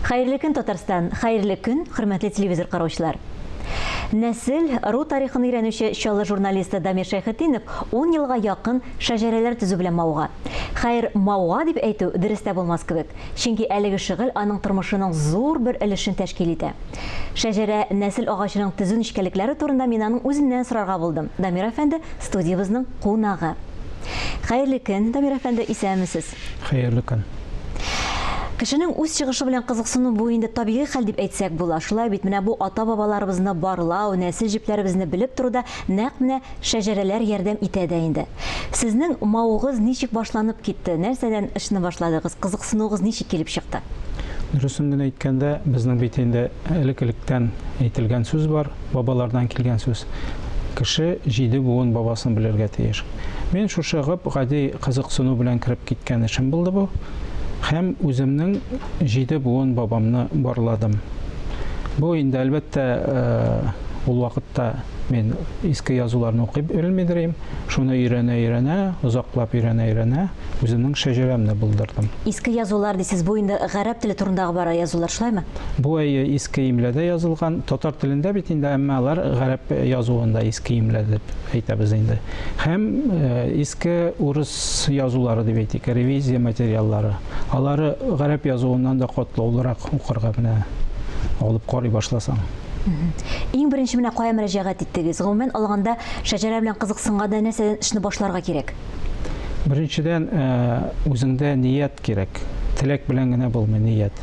Хәерле көн Татарстан, хәерле көн хөрмәтле телевизор караучылар. Нәсел, ру тарихын өйрәнүче Чаллы журналисты Дамир Шәйхетдинов 10 елга якын шәҗәрәләр төзү белән мавыга. Хәер, мавыга дип әйтү дөрес тә булмас кебек, чөнки әлеге шөгыль аның тормышының зур бер өлешен тәшкил итә. Шәҗәрә, нәсел агачының төзү нечкәлекләре турында мин аның үзеннән сорарга булдым. Дамир әфәнде студиябезнең кунагы. Хәерле көн, Дамир әфәнде, исәнмесез? Хәерле көн! Кешенең үз чыгышы белән кызыксыну бу инде табигый хәл дип әйтсәк була. Шулай бит, менә бу ата-бабаларыбызны барлау, нәсел җепләребезне белеп торуда нәкъ менә шәҗәрәләр ярдәм итә дә инде. Сезнең мавыгыз ничек башланып китте, нәрсәдән ышны башладыгыз, кызыксынуыгыз ничек килеп чыкты? Дөресен генә әйткәндә, безнең бит инде элек-электән әйтелгән сүз бар, бабалардан килгән сүз, Кеше җиде буын бабасын белергә тиеш. Мин шушы гып гади кызыксыну белән кереп киткән эшем булды бу һәм үземнең җиде буын бабамны барладым. Бу инде, әлбәттә, ул вакытта мин иске язуларны укып өлмидерим, шуны өйрәнә-өйрәнә, озаклап өйрәнә-өйрәнә, Үземнең шәҗәрәмне булдырдым. Иске язулар дисез, бу инде гарәп теле турындагы бара язулар, шулаймы? Бу әйе, иске имләдә язылган. Татар телендә бит инде, әмма алар гарәп язуында иске имлә дип әйтәбез инде. Һәм иске урыс язулары дип әйтик, ревизия материаллары. Алары гарәп язуыннан да катлаулырак укырга менә алып карый башласаң. Иң беренче менә кая мөрәҗәгать иттегез? Гомумән алганда, шәҗәрә белән кызыксынганда нәрсәдән эшне башларга кирәк? Беренчедән, үзеңдә ният кирәк. Теләк белән генә булмый ният.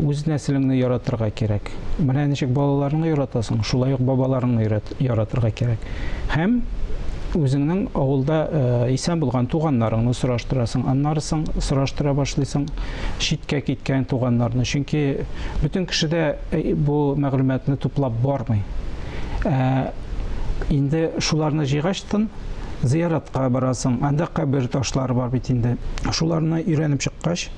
Үз нәселеңне яратырга кирәк. Менә ничек балаларыңны яратасың, шулай ук бабаларыңны яратырга кирәк. Һәм үзеңнең авылда исән булган туганнарыңны сораштырасың. Аннары соң сораштыра башлыйсың читкә киткән туганнарны. Чөнки бөтен кеше дә бу мәгълүматны туплап бармый. Инде шуларны җыйгачтын, зыяратка барасың, анда кабер ташлары бар бит инде. Шуларны өйрәнеп чыккач,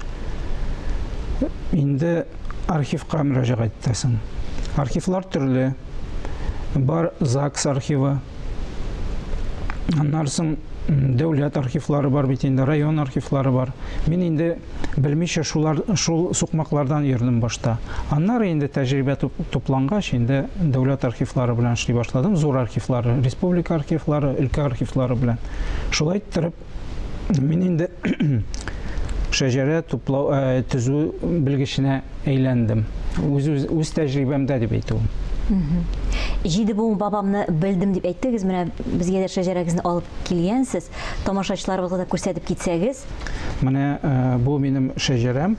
инде архивка мөрәҗәгать итәсең. Архивлар төрле. Бар ЗАГС архивы. Аннарсын дәүләт архивлары бар бит инде, район архивлары бар. Мин инде Белмичә шулар, шул сукмаклардан йөрдем башта. Аннары инде тәҗрибә туплангач, инде дәүләт архивлары белән эшли башладым. Зур архивлары, республика архивлары, өлкә архивлары белән. Шулай иттереп, мин инде шәҗәрә туплау, э, төзү белгеченә әйләндем. Үз, үз, үз тәҗрибәмдә дип әйтү. Җиде буын бабамны белдем дип әйттегез, менә безгә дә шәҗәрәгезне алып килгәнсез. Тамашачыларыбызга да күрсәтеп китсәгез, Менә бу минем шәҗәрәм.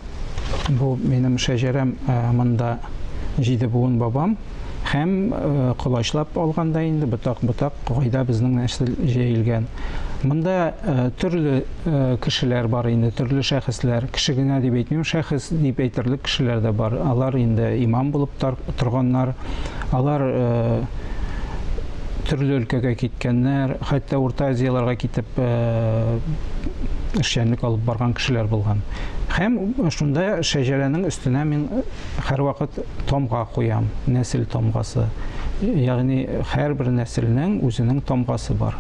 Бу минем шәҗәрәм монда җиде буын бабам һәм колачлап алганда инде ботак-ботак гайда безнең нәсел җәелгән. Монда төрле кешеләр бар инде, төрле шәхесләр. Кеше генә дип әйтмим, шәхес дип әйтерлек кешеләр дә бар. Алар инде имам булып торганнар. Алар төрле өлкәгә киткәннәр, хәтта Урта Азияләргә китеп э, эшчәнлек алып барган кешеләр булган. Һәм шунда шәҗәрәнең өстенә мин һәрвакыт томга куям, нәсел томгасы. Ягъни һәрбер нәселнең үзенең томгасы бар.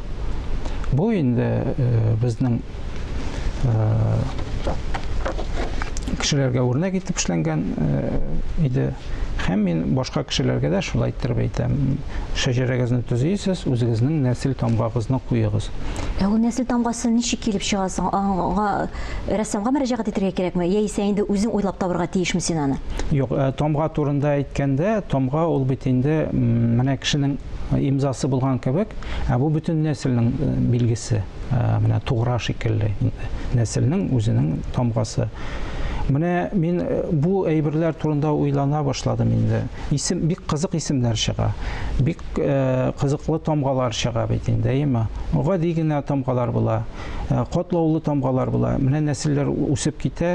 Бу инде э, безнең кешеләргә үрнәк итеп эшләнгән иде һәм мин башка кешеләргә дә шулай иттереп әйтәм шәҗәрәгезне төзисез үзегезнең нәсел тамгагызны куегыз ә ул нәсел тамгасы ничек килеп чыга соң аңа рәссамга мөрәҗәгать итәргә кирәкме яисә инде үзең уйлап табарга тиешме син аны юк э, тамга турында әйткәндә тамга ул бит инде менә кешенең имзасы булган кебек ә бу бөтен нәселнең э, билгесе менә тугра шикелле нәселнең үзенең тамгасы менә мин бу әйберләр турында уйлана башладым инде исем бик кызык исемнәр чыга бик кызыклы тамгалар чыга бит инде әйеме гади генә тамгалар була котлаулы тамгалар була менә нәселләр үсеп китә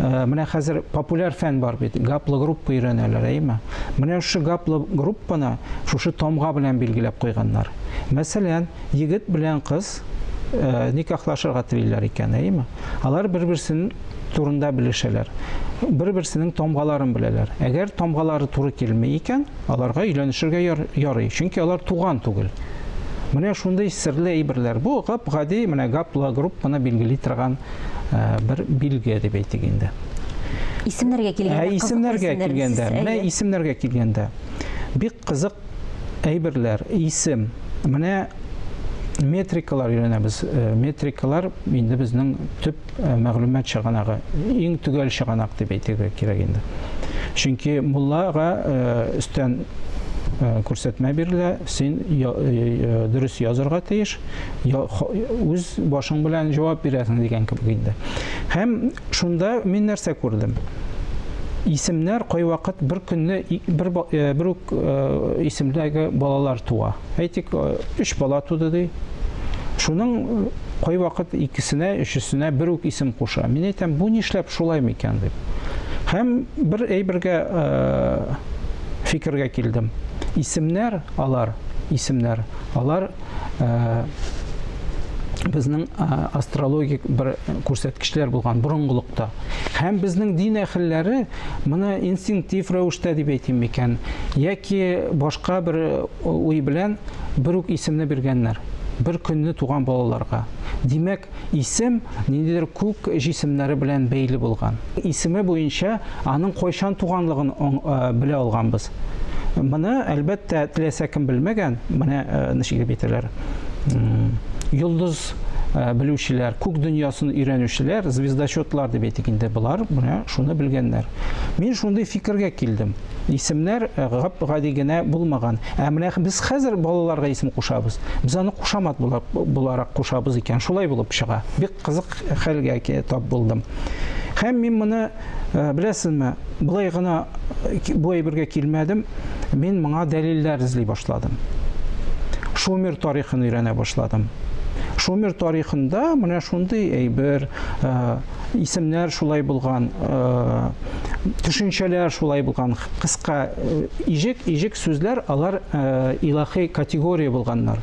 Э, менә хәзер популяр фән бар бит гаплогруппа өйрәнәләр әйме менә шушы гаплогруппаны шушы тамга белән билгеләп куйганнар мәсәлән егет белән кыз э, никахлашырга телиләр икән әйме алар бер берсен турында белешәләр бер берсенең тамгаларын беләләр әгәр тамгалары туры килми икән Аларга өйләнешергә яр, ярый, чөнки алар туган түгел. Менә шундый серле әйберләр. Бу гап-гади менә гаплы группаны билгели торган э, бер билге дип әйтик инде. Исемнәргә килгәндә, ә, исемнәргә килгәндә, менә исемнәргә килгәндә, бик кызык әйберләр, исем. Менә метрикалар өйрәнәбез. Э, метрикалар инде безнең төп мәгълүмат чыганагы, иң төгәл чыганак дип әйтергә кирәк инде. Чөнки муллага өстән күрсәтмә бирелә, син дөрес язырга тиеш, үз башың белән җавап бирәсең дигән кебек инде. Һәм шунда мин нәрсә күрдем? Исемнәр кайвакыт бер көнне бер бер үк исемдәге балалар туа. Әйтик, 3 бала туды ди. Шуның кайвакыт икесенә, өчесенә бер үк исем куша. Мин әйтәм, бу нишләп шулай микән дип. Һәм бер әйбергә э, фикергә килдем. Исемнәр алар, исемнәр алар э, безнең э, астрологик бер күрсәткечләр булган борынгылыкта. Һәм безнең дин әхелләре моны инстинктив рәвештә дип әйтим микән, яки башка бер уй белән бер үк исемне биргәннәр. бер көнне туган балаларга. Димәк, исем ниндидер күк җисемнәре белән бәйле булган. Исеме буенча аның кайчан туганлыгын белә алганбыз. Моны, әлбәттә, теләсә кем белмәгән. Менә ничек дип әйтәләр. Йолдыз белүчеләр, күк дөньясын өйрәнүчеләр, звездочетлар дип әйтик инде, болар менә шуны белгәннәр. Мин шундый фикергә килдем. Исемнәр гап-гади генә булмаган. Ә менә без хәзер балаларга исем кушабыз. Без аны кушамат буларак кушабыз икән. Шулай булып чыга. Бик кызык хәлгә тап булдым. Һәм мин моны, э, беләсезме, былай гына бу әйбергә килмәдем. Мин моңа дәлилләр эзли башладым. Шумер тарихын өйрәнә башладым. Шумер тарихында менә шундый әйбер, э, исемнәр шулай булган, төшенчәләр шулай булган, кыска ижек, ижек сүзләр, алар илахи категория булганнар.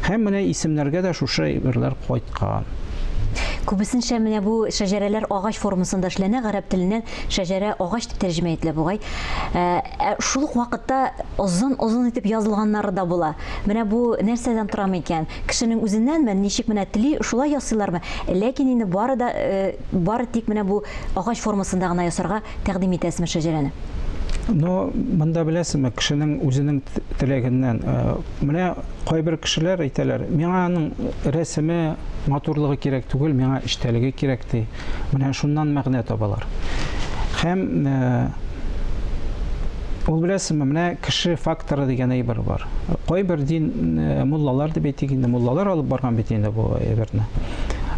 Һәм менә исемнәргә дә шушы әйберләр кайткан. Күбесенчә менә бу шәҗәрәләр агач формасында эшләнә, гарәп теленнән шәҗәрә агач дип тәрҗемә ителә бугай. Ә шул ук вакытта озын-озын итеп язылганнары да була. Менә бу нәрсәдән торамы икән? Кешенең үзеннәнме, ничек менә тели, шулай ясыйлармы? Ләкин инде бары да, бары тик менә бу агач формасында гына ясарга тәкъдим итәсезме шәҗәрәне? Но монда беләсезме, кешенең үзенең теләгеннән. Э, менә кайбер кешеләр әйтәләр, миңа аның рәсеме, матурлыгы кирәк түгел, миңа эчтәлеге кирәк ди. Менә шуннан мәгънә табалар. Һәм э, ул беләсеңме, менә кеше факторы дигән әйбер бар. Кайбер дин э, муллалар дип әйтик инде, муллалар алып барган бит инде бу әйберне.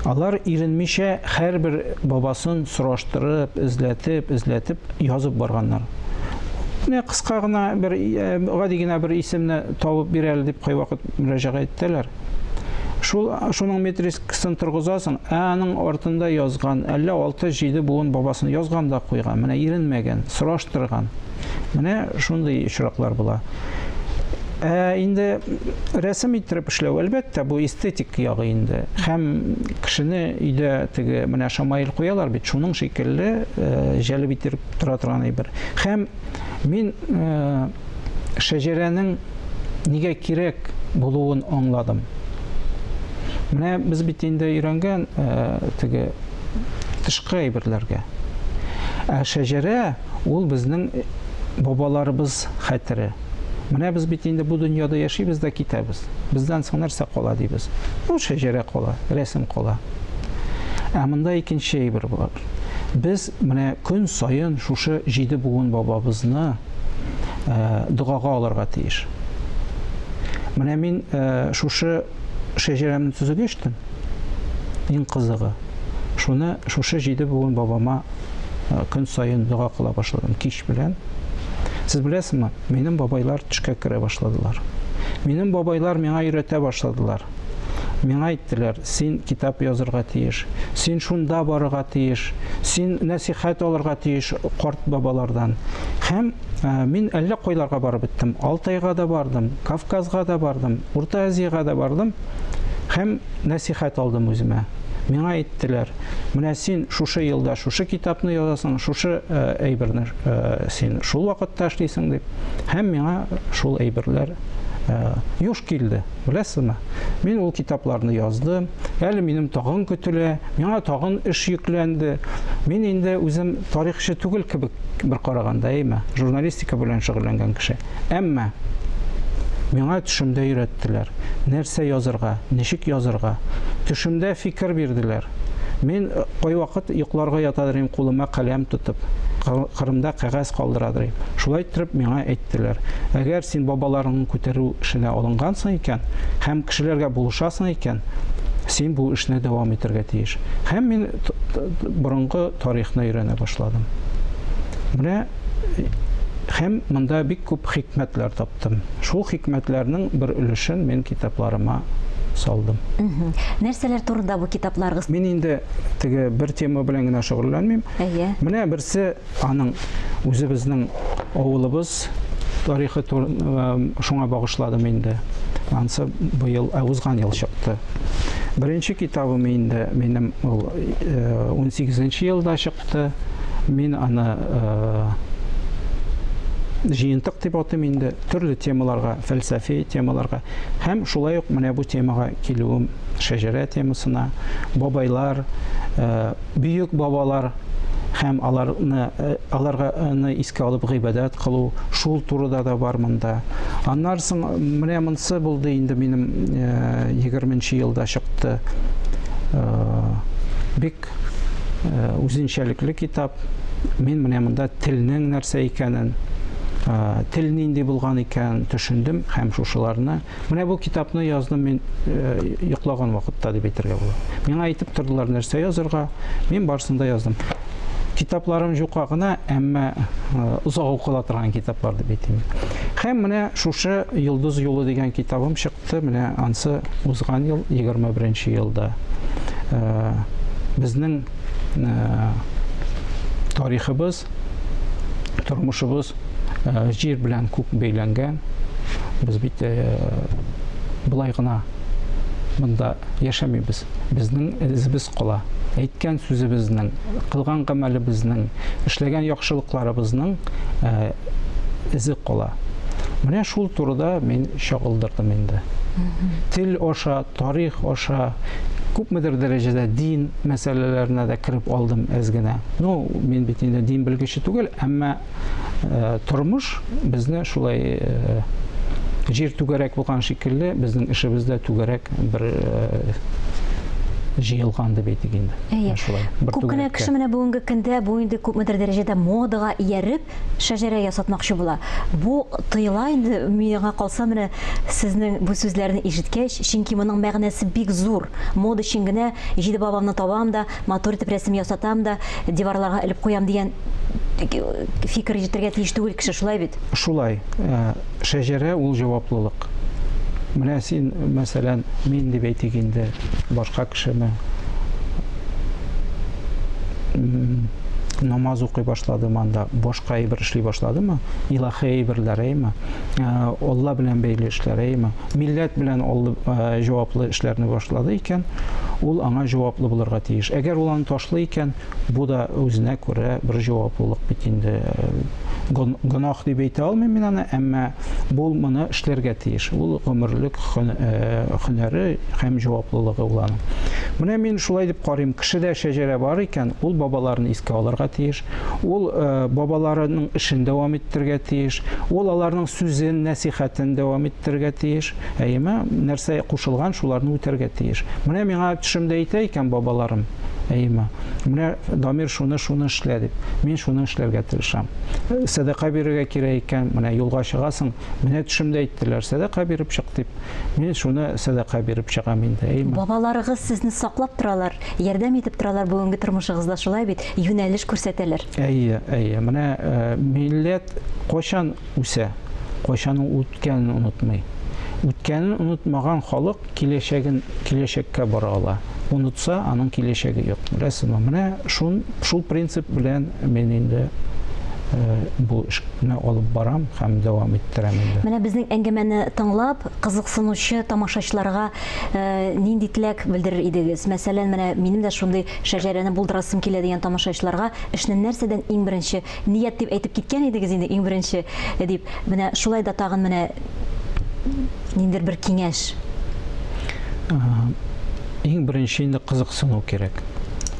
Алар иренмичә һәрбер бабасын сораштырып, эзләтеп, эзләтеп язып барганнар. Менә кыска гына бер э, гади генә бер исемне табып бирәле дип кайвакыт мөрәҗәгать итәләр. Шул, шуның метрискасын торгызасың, ә аның артында язган, әллә 6-7 буын бабасын язган да куйган, менә иренмәгән, сораштырган. Менә шундый очраклар була. Ә инде рәсем иттереп эшләү, әлбәттә, бу эстетик ягы инде. Һәм кешене өйдә теге менә шамаил куялар бит, шуның шикелле э, җәлеп иттереп тора торган әйбер. Һәм мин э, шәҗәрәнең нигә кирәк булуын аңладым. Менә без бит инде өйрәнгән э, теге тышкы әйберләргә. Ә шәҗәрә ул безнең бабаларыбыз хәтере. Менә без бит инде бу дөньяда яшибез дә китәбез. Бездән соң нәрсә кала дибез? Ну, шәҗәрә кала, рәсем кала. Ә монда икенче әйбер бар. Без Менә көн саен шушы җиде буын бабабызны догага алырга тиеш. Менә мин шушы шәҗәрәмне төзүгә эчтем. Иң кызыгы, шуны шушы җиде буын бабама көн саен дога кыла башладым кич белән. Сез беләсезме, минем бабайлар төшкә керә башладылар. Минем бабайлар миңа өйрәтә башладылар. Миңа әйттеләр, син китап язырга тиеш, син шунда барырга тиеш, син нәсихәт алырга тиеш карт бабалардан. Һәм ә, мин әллә кайларга барып беттем. Алтайга да бардым, Кавказга да бардым, Урта Азиягә дә бардым һәм нәсихәт алдым үземә. Миңа әйттеләр, менә син шушы елда шушы китапны язасың, шушы э, әйберне э, син шул вакытта эшлисең дип. Һәм миңа шул әйберләр э, юш килде. Беләсезме? Мин ул китапларны яздым. Әле минем тагын көтелә, миңа тагын эш йөкләнде. Мин инде үзем тарихчы түгел кебек бер караганда, әйме? Журналистика белән шөгыльләнгән кеше. Әмма миңа төшемдә өйрәттеләр. Нәрсә язырга, ничек язырга? Төшемдә фикер бирделәр. Мин э, кайвакыт йокларга ятадырым, кулыма каләм тотып, Кырымда кәгазь калдырадырым. Шулай итеп миңа әйт әйттеләр, Әгәр син бабаларыңны күтәрү эшенә алынгансың икән һәм кешеләргә булышасың икән, син бу эшне дәвам итәргә тиеш. Һәм мин борынгы тарихны өйрәнә башладым. Менә һәм монда бик күп хикмәтләр таптым. Шул хикмәтләрнең бер өлешен мин китапларыма салдым. Нәрсәләр турында бу китапларыгыз? Мин инде теге бер тема белән генә шөгыльләнмим. Әйе. Менә берсе Аның үзе безнең авылыбыз тарихы шуңа багышладым инде. Ансы быел, ә узган ел чыкты. Беренче китабым инде минем ул 18 э, елда чыкты. Мин аны э, җыентык дип атыйм инде. Төрле темаларга, фәлсәфи темаларга һәм шулай ук менә бу темага килүем шәҗәрә темасына, бабайлар, э, бөек бабалар һәм аларны э, аларга ны искә алып гыйбадәт кылу, шул турыда да бар монда. Аннары соң менә монсы булды инде минем 20 нче елда чыкты. Бик үзенчәлекле китап. Мин менә монда телнең нәрсә икәнен, тел нинди булган икән төшендем һәм шушыларны Менә бу китапны яздым мин йоклаган вакытта дип әйтергә була. Миңа әйтеп тордылар нәрсә язырга, мин барсын да яздым. Китапларым җука гына, әмма озак укыла торган китаплар дип әйтим. Һәм менә шушы Йолдыз юлы дигән китабым чыкты, менә ансы узган ел 21 елда. Безнең тарихыбыз, тормышыбыз җир белән күк бәйләнгән. Без бит былай гына монда яшәмибез. Безнең эзебез кала. Әйткән сүзебезнең, кылган гамәлебезнең, эшләгән яхшылыкларыбызның эзе кала. Менә шул турыда мин чагылдырдым инде. Тел аша Тарих аша күпмедер дәрәҗәдә дин мәсьәләләренә дә кереп алдым әз генә. Ну, мин бит инде дин белгече түгел, әмма тормыш безне шулай җир түгәрәк булган шикелле, безнең эшебез дә түгәрәк бер җыелган дип әйтик инде. Әйе. Шулай. Күп кенә кеше менә бүгенге көндә бу инде күпмедер дәрәҗәдә модага ияреп, Шәҗәрә ясатмакчы була. Бу тыела инде, миңа калса, менә сезнең бу сүзләрне ишеткәч, чөнки моның мәгънәсе бик зур. Мода өчен генә җиде бабамны табам да, матур итеп рәсем ясатам да, диварларга элеп куям дигән фикер йөртергә тиеш түгел кеше, шулай бит? Шулай. Шәҗәрә ул җаваплылык. Менә син, мәсәлән, мин дип әйтик инде, башка кешеме? намаз укый башладымы анда, башка әйбер эшли башладымы, илаһи әйберләр әйме, Алла белән бәйле эшләр әйме, милләт белән җаваплы эшләрне башлады икән, ул аңа җаваплы булырга тиеш. Әгәр ул аны ташлый икән, Бу да үзенә күрә бер җаваплылык бит инде. Гөнаһ дип әйтә алмыйм мин аны, әмма бул моны эшләргә тиеш. Ул гомерлек һөнәре һәм җаваплылыгы ул аның. Менә мин шулай дип карыйм, кешедә шәҗәрә бар икән, ул бабаларын искә алырга тиеш, ул бабаларының эшен дәвам иттерергә тиеш, ул аларның сүзен, нәсихәтен дәвам иттерергә тиеш. Әйеме? Нәрсә кушылган, шуларны үтәргә тиеш. Менә миңа төшемдә әйтә икән бабаларым, Әйма. Менә Дамир шуны шуны эшлә дип, мин шуны эшләргә тырышам. Сәдака бирергә кирәк икән, менә юлга чыгасың, менә төшемдә әйттеләр, сәдака биреп чык дип. Мин шуны сәдака биреп чыгам инде. Әйма. Бабаларыгыз сезне саклап торалар, ярдәм итеп торалар бүгенге тормышыгызда, шулай бит, юнәлеш күрсәтәләр. Әйе, әйе. Менә милләт кайчан үсә, кайчан ул үткәнен онытмый. Үткәнен онытмаган халык Киләчәген киләчәккә бора ала. Онытса, аның киләчәге юк. Беләсезме, менә шун, шул принцип белән мин инде бу эшне алып барам һәм дәвам иттерәм инде. Менә безнең әңгәмәне тыңлап, кызыксынучы тамашачыларга нинди теләк белдерер идегез? Мәсәлән, менә минем дә шундый шәҗәрәне булдырасым килә дигән тамашачыларга эшне нәрсәдән иң беренче Ният дип әйтеп киткән идегез инде иң беренче, дип, менә шулай да тагын менә ниндер бер киңәш. Иң беренче инде кызыксыну кирәк.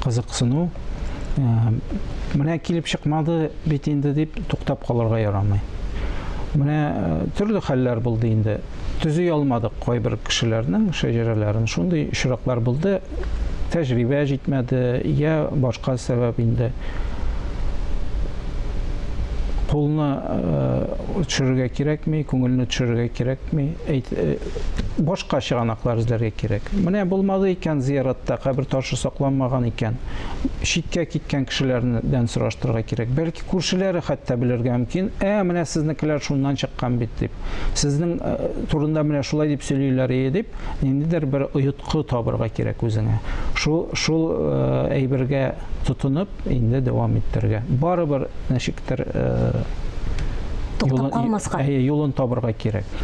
Кызыксыну менә килеп чыкмады бит инде дип туктап калырга ярамый. Менә төрле хәлләр булды инде. төзи алмадык кайбер кешеләрнең шәҗәрәләрен. Шундый очраклар булды, тәҗрибә җитмәде, я башка сәбәп инде. Кулны э, төшерергә кирәкми, күңелне төшерергә кирәкми. Әйт, э, башка чыганаклар эзләргә кирәк. Менә булмады икән зияратта, кабер ташы сакланмаган икән. Читкә киткән кешеләрдән сораштырырга кирәк. Бәлки Күршеләре хәтта белергә мөмкин, ә менә сезнекеләр шуннан чыккан бит дип, сезнең э, турында менә шулай дип сөйлиләр ие дип, ниндидер бер оеткы табырга кирәк үзеңә. Шул, шул э, әйбергә тотынып, инде дәвам иттерергә. Барыбер нәшиктер э, туктап калмаска. Әйе, юлын табырга кирәк.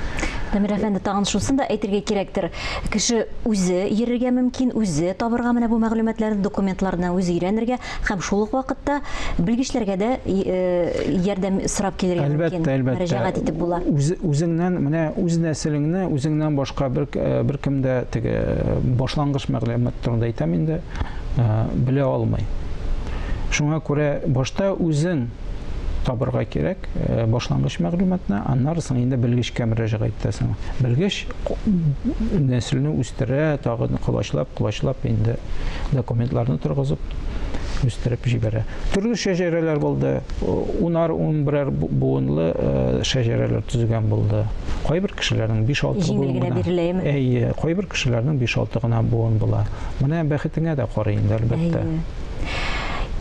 Дамир әфәнде, тагын шусын да әйтергә кирәктер. Кеше үзе йөрергә мөмкин, үзе табырга менә бу мәгълүматларны, документларны үзе өйрәнергә. Һәм шул ук вакытта белгечләргә дә ярдәм сорап килергә мөмкин. Әлбәттә, әлбәттә. Мөрәҗәгать итеп була. Үз, үзеңнән, менә үз нәселеңне үзеңнән башка бер, бер кемдә теге башлангыч мәгълүмат турында әйтәм инде, белә алмый. Шуңа күрә башта үзең табырга кирәк башлангыч мәгълүматны, аннары соң инде белгечкә мөрәҗәгать итәсең. Белгеч нәселне үстерә, тагы колачлап, колачлап инде документларны торгызып үстереп җибәрә. Төрле шәҗәрәләр булды. Унар, ун берәр буынлы э, шәҗәрәләр төзегән булды. Кайбер кешеләрнең 5-6 буын гына. биреләме? Әйе, кайбер кешеләрнең 5-6 гына буын була. Менә бәхетеңә дә карый инде, әлбәттә.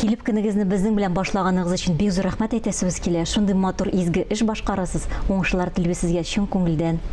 Килеп кенегезне безнең белән башлаганыгыз өчен бик зур рәхмәт әйтәсебез килә. Шундый матур изге эш башкарасыз. Уңышлар телибез сезгә чын күңелдән.